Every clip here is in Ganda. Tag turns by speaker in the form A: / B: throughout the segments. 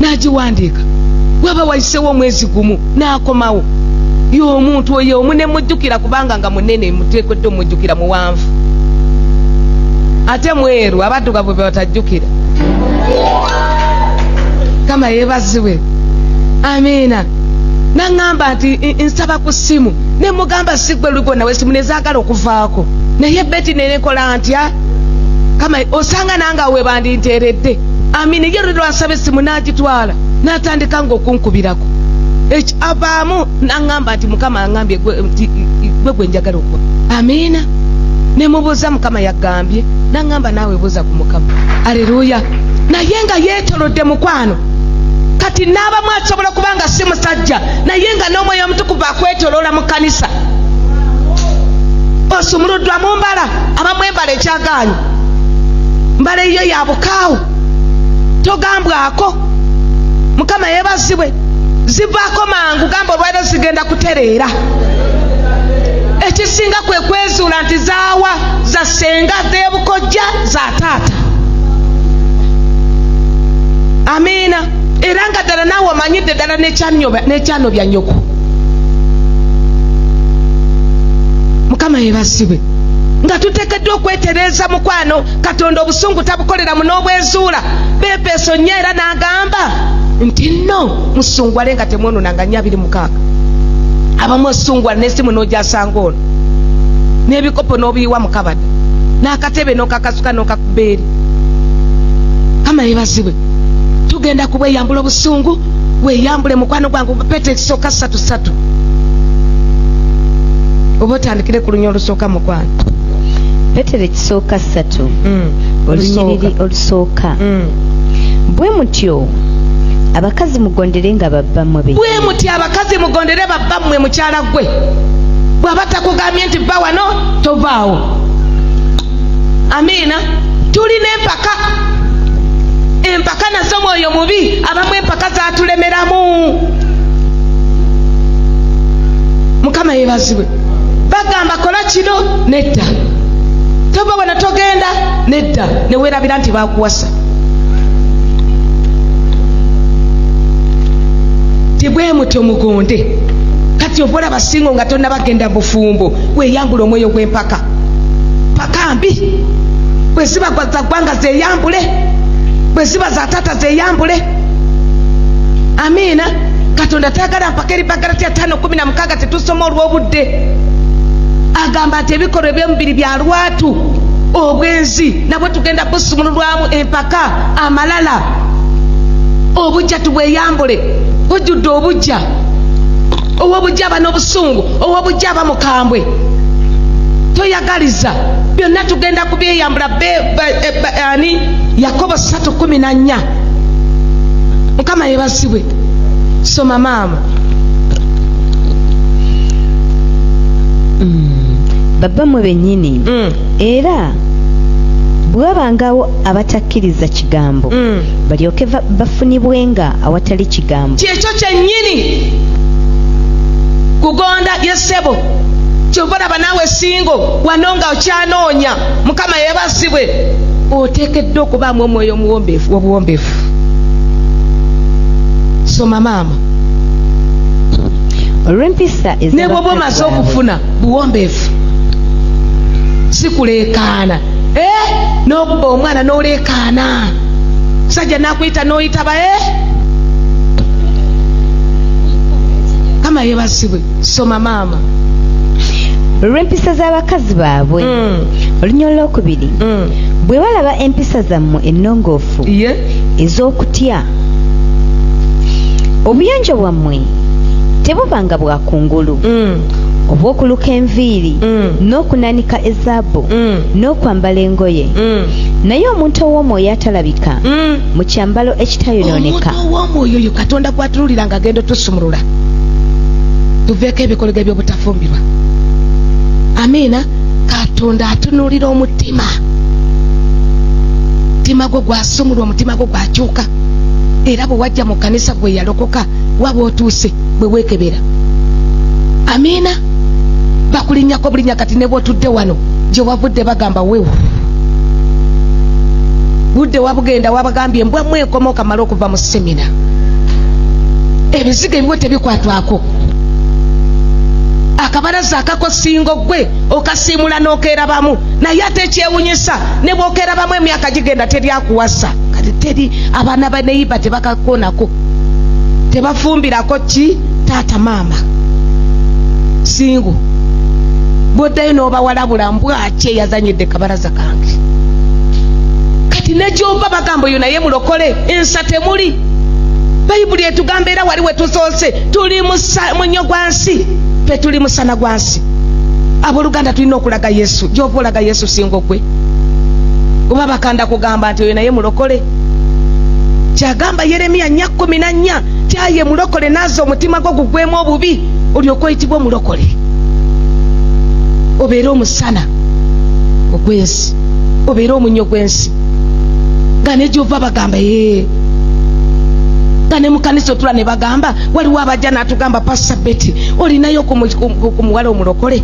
A: n'agiwandiika waba wayisewo omwezi gumu n'akomawo y'omuntu oyo omu ne mujjukira kubanga nga munene muteekwedde omujjukira muwanvu ate mweru abaddugavu be batajjukira kama yeebazibwe amiina naŋŋamba nti nsaba ku ssimu ne mugamba sigwe lugona wesimu nezaagala okuvaako naye beti nenekola ntya kama osanga nange awe bandinteeredde amini ye luli lwansaba essimu n'agitwala n'atandika nga okunkubirako Eki- avaamu n'aŋŋamba nti mukama aŋŋambye gwe- nti gwe gwe njagala okuwa amiina ne mubuuza mukama yaggambye n'aŋŋamba naawe buuza ku mukama aleluya naye nga yeetolodde mukwano kati n'abamu asobola kuba nga si musajja naye nga n'omwoyo omutukuvu akwetoloola mu kkanisa osumuluddwa mu mbala abamwembala ekyagaanyi mbala eyiyo yabukaawo togambwako mukama yebazibwe zivaako mangu gamba olwaliro zigenda kutereera ekisinga kwe kwezuula nti zaawa za senga zebukojja za taata amiina era nga ddala naawe omanyidde ddala nekyano bya nyoko mukama yebazibwe nga tuteka Tuteekeddwa okwetereeza mukwano. Katonda obusungu tabukolera mu n'obwezuula. Beefeeso nnyo era n'agamba nti nno musungwale nga temwononanga nnyo abiri mukaaga abamu osungwala n'essimu n'ogyasanga ono n'ebikopo n'obiyiwa mu kabada n'akatebe n'okakasuka n'okakuba eri kama yebazibwe tugenda kubweyambula obusungu weyambule mukwano gwange pete ekisooka satu satu oba otandikire ku lunya olusooka mukwano petero
B: ekisooka ssatu mm. olunyiriri olusooka mm. bwe mutyo abakazi mugondere nga babbammwe be bwe muti abakazi
A: mugondere babbammwe mukyala gwe bwaba takugambye nti bba wano tovaawo amiina tulina empaka empaka nazo mwoyo mubi abamu empaka zatulemeramu mukama yebazibwe bagamba kola kino nedda tova wena togenda nedda newerabira nti bakuwasa tibwemutyo mugonde kati ovola basingo nga tonabagenda bufumbo weyambula omwoyo gwempaka paka mbi bweziba za ggwanga zeyambule bweziba za taata zeyambule amiina katonda tayagala mpaka eri bagala tya tano kumi na mukaga nga tetusoma olw'obudde agamba nti ebikolwa eby'omubiri bya lwatu obwenzi nabwe tugenda busumululwamu empaka amalala obujja tubweyambule bujjudde obujja owobujja aba n'obusungu owobujja aba mukambwe toyagaliza byonna tugenda kubyeyambula eh, ani yakobo 3 1 mukama yebazibwe soma maama
B: babbamwe bennyini mm. era bwewabangawo abatakkiriza kigambo mm. balyoke bafunibwenga awatali kigambo kyekyo kyennyini
A: kugonda yesebo kyova olaba naawe singo wano nga okyanoonya mukama yebazibwe oteekeddwa okubaamu omwoyo omuwombeefu obuwombeefu somama mukama
B: olw'empisa ne bwoba omaze
A: okufuna buwombeefu sikuleekaana eh? n'okuba omwana n'oleekaana sajja nakuyita n'oyitaba e eh? mukama yebazibwe soma maama
B: olw'empisa z'abakazi baabwe mm. olunya olwokubiri mm. bwe balaba empisa zammwe ennongoofu ez'okutya obuyonjo bwammwe tebuba nga bwa kungulu mm. obw'okuluka enviiri mm. n'okunanika ezaabu mm. n'okwambala engoye mm. naye omuntu ow'omwoyo atalabika mm. mu kyambalo ekitayonooneka omuntu ow'omwoyo oyo
A: katonda gwatululira nga agenda otusumulula tuveeko ebikolego eby'obutafumbirwa amiina katonda atunuulira omutima mutima gwo gwa sumulwa omutima gwo gwakyuka era bwe wajja mu kkanisa gwe yalokoka waba otuuse bwe weekebera amiina bakulinnyako bulinnya kati ne bwotudde wano gye wavudde bagamba wewu budde wabugenda wabagambye mbwa mwenkoma okamala okuva mu semina ebizigo ebiwe tebikwatwako akabalaza akakosingo gwe okasiimula n'okerabamu naye ate ekyewunyisa ne bwokerabamu emyaka nga kigenda teri akuwasa kati teri abaana baneyiba tebakakonako tebafumbirako ki taata maama singo bwoddayo n'obawalabula mbwaki eyazanyidde kabalaza kange kati negyova bagamba oyo naye mulokole ensa temuli bayibuli etugamba era wali wetusoose tuli munyo gwa nsi tetuli musana gwa nsi aboluganda tulina okulaga yesu gyova olaga yesu singo gwe oba bakanda kugamba nti oyo naye mulokole kyagamba yeremiya nya kumi na nnya tyaye mulokole naaza omutima gwo gugwemu obubi olyoka oyitibwa omulokole obeere omusana ogwensi obeere omunyo gwensi nga negyova bagamba ee eh. nga ne mukanisa otula ne bagamba waliwo abajja natugamba pasa beti olinayo ku muwala omulokole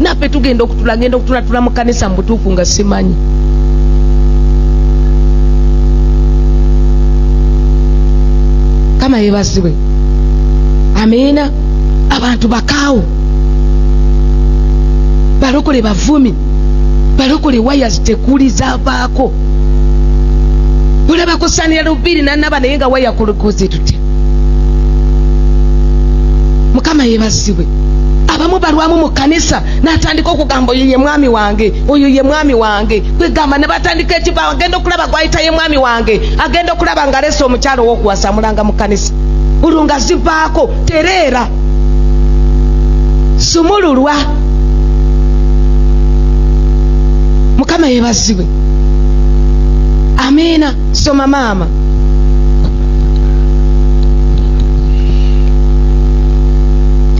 A: naffe tugenda okutula ngenda okutulatula mu kanisa mu butuufu nga simanyi mukama yebazibwe amiina abantu bakaawo balokole bavumi balokole waya zitekuli zavaako olabako sanira lubiri nanaba naye nga waya kulukoze tutya mukama yebazibwe abamu balwamu mu kanisa natandika okugamba oyo ye mwami wange oyo ye mwami wange kwegamba ne batandika ekiva agenda okulaba gwayita ye mwami wange agenda okulaba nga alesa omukyalo owokuwasamulanga mu kanisa olwo nga zivaako tereera sumululwa mukama yebazibwe amiina soma maama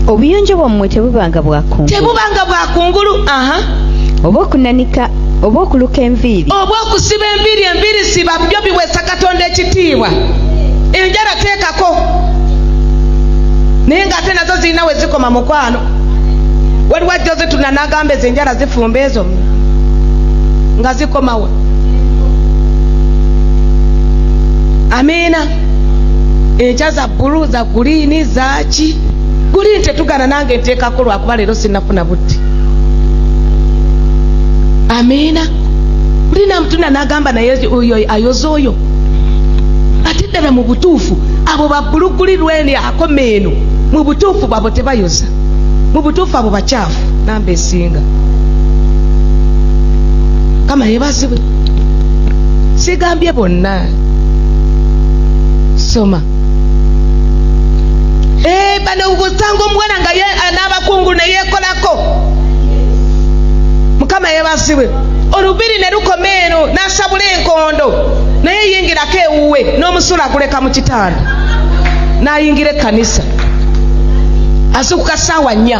B: obuyonjo bwammwe tebubanga bwakungulu tebubanga
A: bwakungulu aha
B: oba okunanika oba okuluka enviiri oba okusiba enviiri
A: enviiri siba byo biweesa katonda ekitiibwa enjala teekako naye ng'ate nazo zirina we zikoma mukwano waliwo ajja ozitunanagamba ezo enjala zifumba ezo nga zikomawo kyawa amiina enkya za bulu za guliini zaki guliini tetugana nange nteekako lwakuba leero sinafuna butti amiina kulina mutuna nagamba naye oyo ayoza oyo ate ddala mu butuufu abo babbuluguli lwene akomeeno mu butuufu bwabo tebayoza mu butuufu abo bakyawa namba esinga kama yebazibwe sigambye bonna soma Eh, bano gusanga omuwala nga ye- eh, n'abakungu ne yeekolako mukama yebazibwe olubiri ne lukoma eno n'asabula enkondo naye yingirako ewuwe n'omusulo aguleka mu kitanda n'ayingira ekkanisa azuukuka ssaawa nnya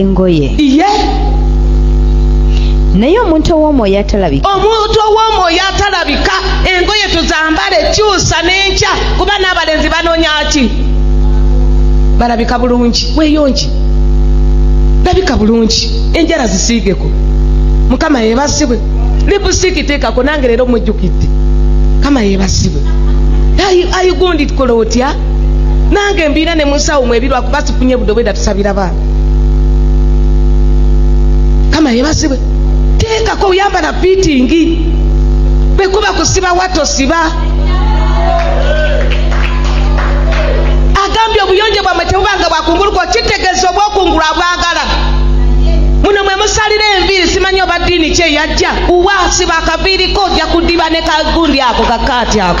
B: engoye iye naye omuntu ow'omwoyo atalabika omuntu ow'omwoyo
A: atalabika engoye tuzambale kyusa n'enkya kuba n'abalenzi banoonya ki balabika bulungi weyongi labika bulungi enjala zisiigeko mukama yebasibwe lipusiiki teekako nange leero mujjukidde mukama yebasibwe ayigundikola otya nange mbiina ne musawo mwebirwa kuba sifunye budobweda tusabira baana kama yebasibwe teekako oyambala piitingi bwekuba kusiba watosiba agambye obuyonjo bwamwe tebubanga bwakunguluka okitegeeza obwokungula bwagala muno mwe musalira enviiri simanyi oba ddiini kye yajja uwa siba akaviiriko ojja kudiba ne kagundi ako kakaati ako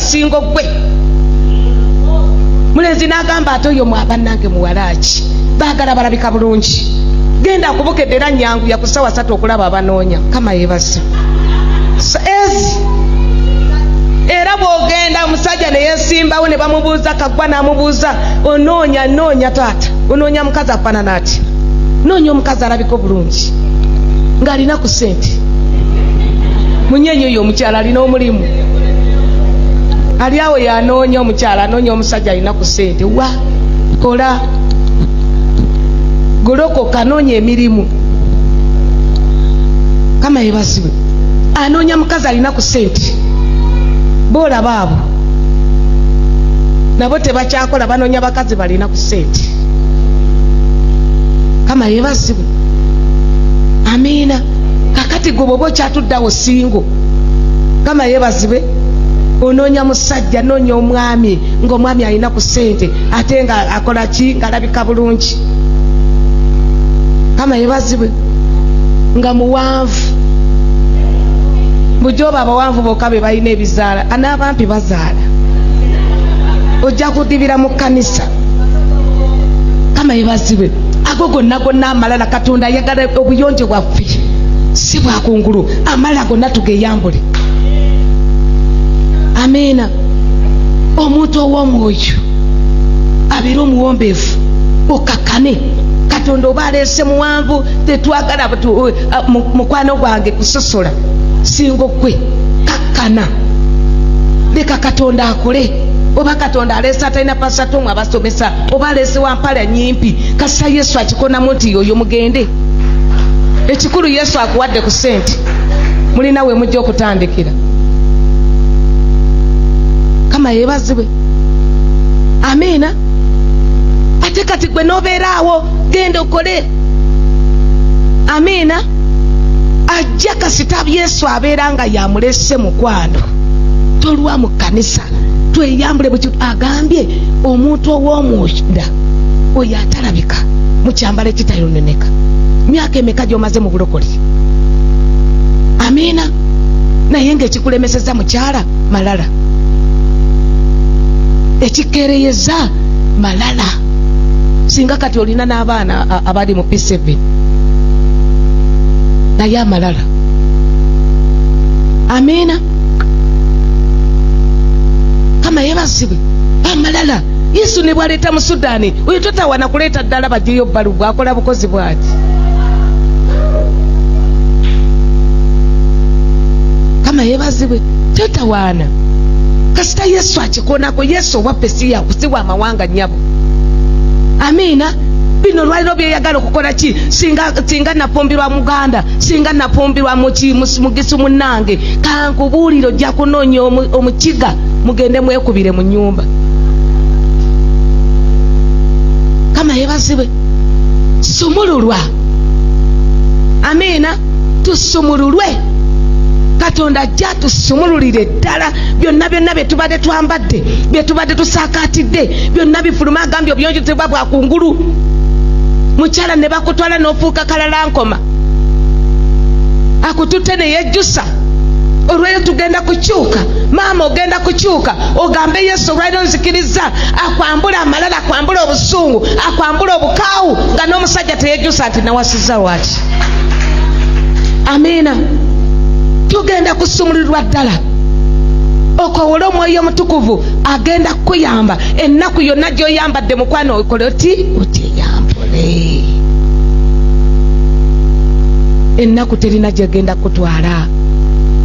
A: singo gwe mulenzi n'agamba ate oyo mwabanange muwalaaki baagala balabika bulungi genda akubukedde era nyangu yakusawa satu okulaba abanoonya kama yebaza ezi era bwogenda omusajja neyesimbawo ne bamubuuza kagwa n'amubuuza onoonya noonya taata onoonya mukazi afaanana ati noonya omukazi alabika obulungi ng'alina ku sente munyenyi oyo omukyala alina omulimu ali awo yanoonya omukyala anoonya omusajja alina ku sente wa kola golokoka noonya emirimu kama yebazibwe anoonya mukazi alina ku sente boolaba abo nabo tebakyakola banoonya bakazi balina ku sente kama yebazibwe amiina kakati gwe bwoba okyatuddawo singo kama yebazibwe onoonya musajja noonya omwami ngaomwami alina ku sente ate nga akola ki ngaalabika bulungi kama yebazibwe nga muwanvu bujoba abawanvu boka be balina ebizaala anaabampi bazaala ojja kudibira mu kanisa kama yebazibwe ago gonna gonna amalala katonda ayagala obuyonjo bwaffe si bwakungulu amala gonna tugeyambule amiina omuntu ow'omwoyo abeere omuwombeevu okakkane katonda oba aleese muwanvu tetwagala uh, mukwano gwange kusosola singa okwe kakkana leka katonda akole oba katonda aleese atalina pasatomu abasomesa oba aleese wampala nyimpi kasita yesu akikonamu nti yoyo mugende ekikulu yesu akuwadde ku sente mulina we mujja okutandikira kama yebazibwe amiina ate kati gwe nobeeraawo genda okole amiina ajja kasita yesu abeera nga yamulese mukwano tolwa mu kkanisa tweyambule buli agambye omuntu ow'omunda oyo atala olabika mu kyambalo ekitayononeka myaka emeka gyomaze mu bulokole amiina naye ngaekikulemeseza mukyala malala ekikereyeza malala singa kati olina n'abaana abali mu p7 naye amalala amiina kama yebazibwe amalala yesu nebwaleeta mu sudani oyo totawana kuleeta ddala bajeyo bbalu bwakola bukozi bwaki kama yebazibwe totawaana kasita yesu akikonako yesu owaffe siyakusiwa amawanga nyabo amiina bino olwaliro byeyagala okukola ki singa nafumbirwa muganda singa nafumbirwa mugisu munange kankubuulire ojja kunoonya omukiga mugende mwekubire mu nyumba kama yebazibwe sumululwa amiina tusumululwe katonda ajja tusumululire ddala byonna byonna byetubadde twambadde byetubadde tusakatidde byonna bifuluma agambye obuyonjozebwa bwakungulu mukyala ne bakutwala n'ofuuka kalala nkoma akututte neyejjusa olweyo tugenda kukyuka maama ogenda kukyuka ogambe yesu olwaliro nzikiriza akwambula amalala akwambula obusungu akwambula obukaawu nga n'omusajja teyejusa nti nawasiza lwaki amiina tugenda kusumulirwa ddala okowole omwoyo omutukuvu agenda kukuyamba ennaku yonna gyoyambadde mukwano okole oti otyeyambule ennaku terina gyegenda kutwala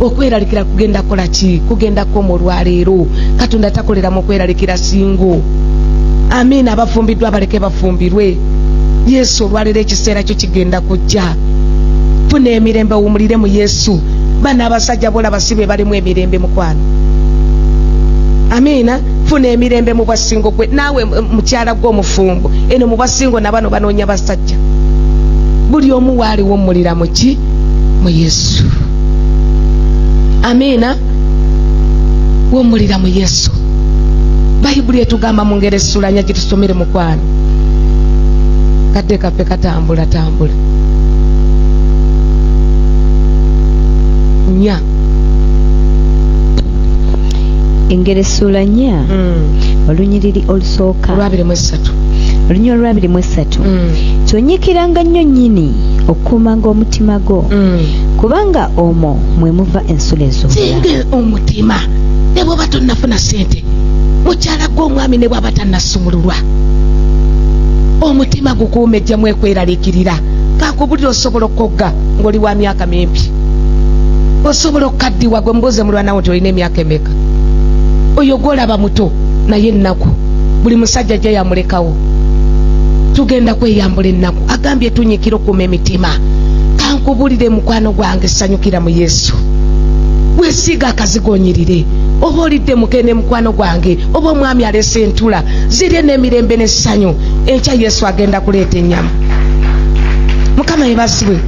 A: okweralikira kugenda kola ki kugenda koma olwaleero katonda takolera mu kweralikira singo amiina abafumbiddwa baleke bafumbirwe yesu olwaleero ekiseera kyo kigenda kujja funa emirembe wumulire mu yesu bana abasajja bolaba si be balimu emirembe mukwano amiina funa emirembe mu bwasingo gwe naawe mukyala gwe omufumbo eno mu bwasingo nabano banoonya basajja omusajja buli omu waaliwomulira muki mu yesu amiina womulira mu yesu bayibuli etugamba mu ngeri esulanya gitusomere mukwano kadde kaffe katambula tambula nya
B: engeri esuula nya mm. olunyiriri olusooka olwabiri mu essatu
A: olunya olwabiri
B: mu essatu mm. kyonyikiranga nnyo nnyini okukuumanga omutima gwo mm. kubanga omwo mwe muva ensula ezosinga omutima
A: ne bwoba tonnafuna ssente mukyala gwe omwami ne bwaba tannasumululwa omutima gukuuma ejjamu ekweraliikirira kakubulira osobola okukogga ng'oli wa myaka mimpi osobola okukaddiwa gwe mubuuze mulwanawo nti olina emyaka emeka oyo gwolaba muto naye ennaku buli musajja ajja yamulekawo tugenda kweyambula ennaku agambye tunyikira okuuma emitima kankubulire mukwano gwange sanyukira mu yesu wesiiga akazigonyirire oba olidde mukene mukwano gwange oba omwami alese entula zirye n'emirembe n'essanyu enkya yesu agenda kuleeta ennyama mukama yebazibwe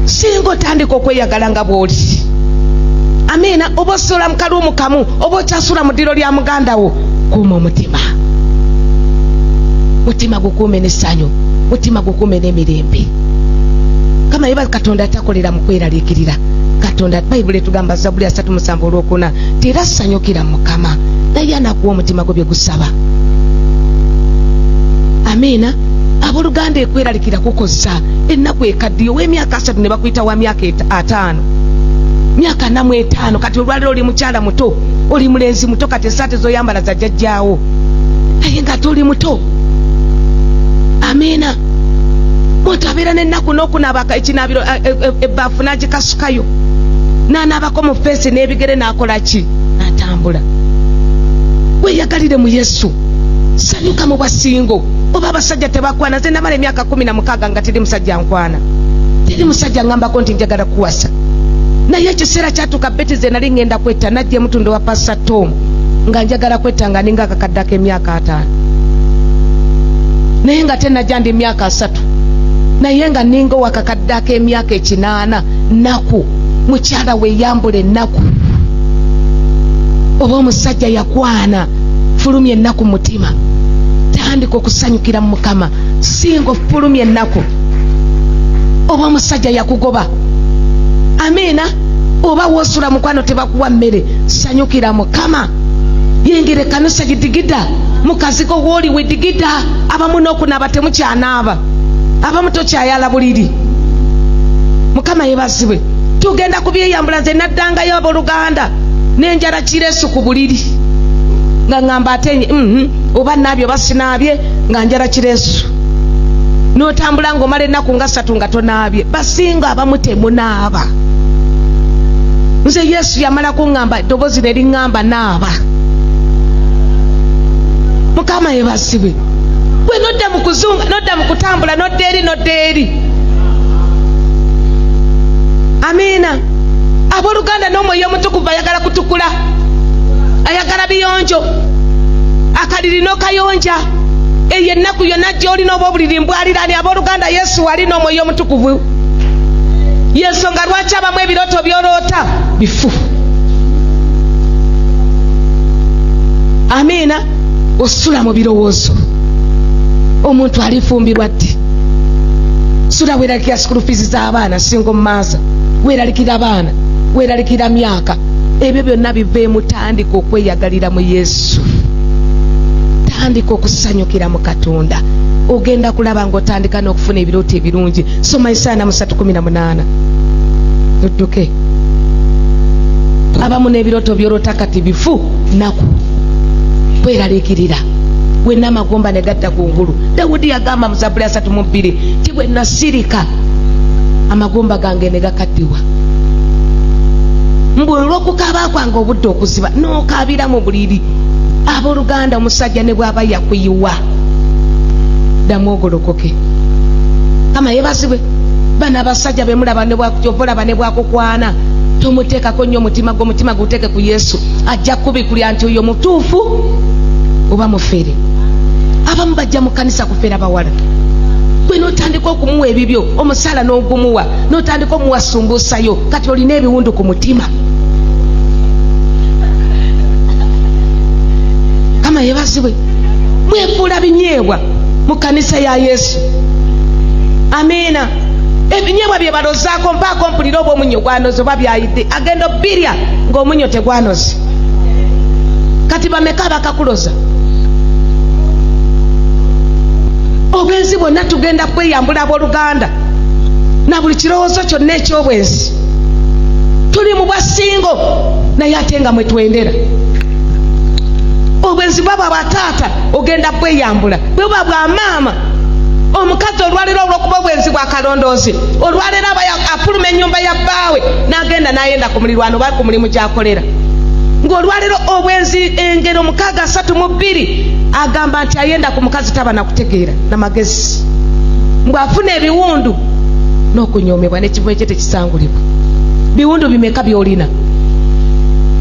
A: singa otandika okweyagala nga bw'oli amiina oba osola mu kalwo mukamu oba sula mu ddiro lya muganda wo kuuma omutima mutima gukuume n'essanyu mutima gukuume n'emirembe kama yeba katonda atakolera mu kweraliikirira katonda bayibuli etugamba zabbuli asatu musanvu olwokuna nti era sanyukira mukama naye anakuwa omutima gwe bye gusaba amiina abooluganda ekweralikira kukozza ennaku ekaddiyo w'emyaka asatu ne bakuyita wa myaka ataano myaka namu etaano kati olwaliro oli mukyala muto oli mulenzi muto kati esaati zoyambala zajajjaawo naye nga toli muto amiina muntu abeera nenaku nokunaaba ekinaabiro eh, eh, eh, ebbaafu nagikasukayo nanaabako mu feesi n'ebigere nakola ki natambula weyagalire mu yesu sanyuka mu basingo oba abasajja tebakwana ze namala emyaka kumi na mukaaga nga teri musajja nkwana abaana teri musajja ngambako nti njagala kuwasa naye ekiseera kyatuuka beti ze nali ngenda kwetta najja emutunda wa pasa tom nga njagala kwetta nga ninga akakaddako emyaka ataano naye nga tenajja ndi myaka asatu naye nga ninga owakakaddako emyaka ekinaana naku mukyala weyambula ennaku oba omusajja yakwana fulumya ennaku mutima tandika okusanyukira mu mukama singa ofulumya ennaku oba omusajja yakugoba amiina oba wosula mukwano tebakuwa mmere sanyukira mukama yingira ekanisa gidigida mukazigo wooli wedigida abamu nokunaaba temukyanaaba abamu tokyayala buliri mukama yebazibwe tugenda kubyeyambula nze naddangayo aboluganda nenjala kiresu ku buliri nga ngamba ate mm -hmm. oba naabye oba sinaabye nga njala kiresu notambula nga omala ennaku nga ssatu nga tonaabye basinga abamu temunaaba nze yesu yamala kuŋŋamba eddoboozi ne liŋŋamba naaba mukama yebazibwe gwe nodda mu kuzunga nodda mu kutambula nodda eri nodda eri amiina abooluganda n'omwoyo omutukuvu ayagala kutukula ayagala biyonjo akalirino kayonja eyo ennaku yonna gy'olina oba obuliri mbwalirani abooluganda yesu wali n'omwoyo omutukuvu yensonga lwaki abamu ebirooto by'oloota bifu amiina osula mu birowoozo omuntu alifumbirwa ddi sula weeralikira sikulu fiizi z'abaana singa omumaaza weeralikira abaana weeralikira myaka ebyo byonna biva emutandika okweyagalira mu yesu yesu tandika okusanyukira mu katonda ogenda kulaba nga otandika n'okufuna ebirooto ebirungi soma esaana musatu kumi na munaana odduke abamu n'ebirooto byolota kati bifu naku kweraliikirira wenna amagomba ne gadda ku ngulu dawudi yagamba mu zabuli asatu mu bbiri ti bwe nasirika amagomba gange ne gakaddiwa mbu olw'okukaaba kwange obudde okuziba tokaabira mu buliri abooluganda omusajja ne bw'aba yakuyiwa ddamu ogolokoke kama yebazibwe bano abasajja bemulaba nebwakujovolaba nebwakukwana tomuteekako nnyo omutima gwe omutima guteeke ku yesu ajja kubikulya nti oyo mutuufu oba mufere abamu bajja mu kanisa kufera bawala gwe notandika okumuwa ebibyo omusaala n'ogumuwa notandika omuwa sumbuusayo kati olina ebiwundu ku mutima kama yebazibwe mwefuula binyeebwa mu kanisa ya yesu amiina ebinyeebwa byebalozaako mpaako mpulira oba omunyo gwanoze oba byayidde agenda obbirya ngaomunyo tegwanoze kati bameka bakakuloza obwenzi bwonna tugenda kweyambula aboluganda na buli kirowoozo kyonna ekyobwenzi tuli mu bwasingo naye ate nga mwe twendera obwenzi bwaba bwataata ogenda bweyambula bwebuba bwa maama omukazi olwaleero olwokuba obwenzi bwa kalondoozi olwaleero aba afuluma ennyumba ya bbaawe n'agenda n'ayenda ku mulirwano oba ku mulimu gy'akolera ng'olwaleero obwenzi engero mukaaga asatu mu bbiri agamba nti ayenda ku mukazi taba nakutegeera na magezi mbu afuna ebiwundu n'okunyomebwa nekivume kye tekisangulibwa biwundu bimeka byolina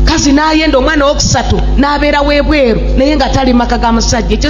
A: kazi nayenda omwana wokusatu nabeera webweru naye nga tali maka ga musajja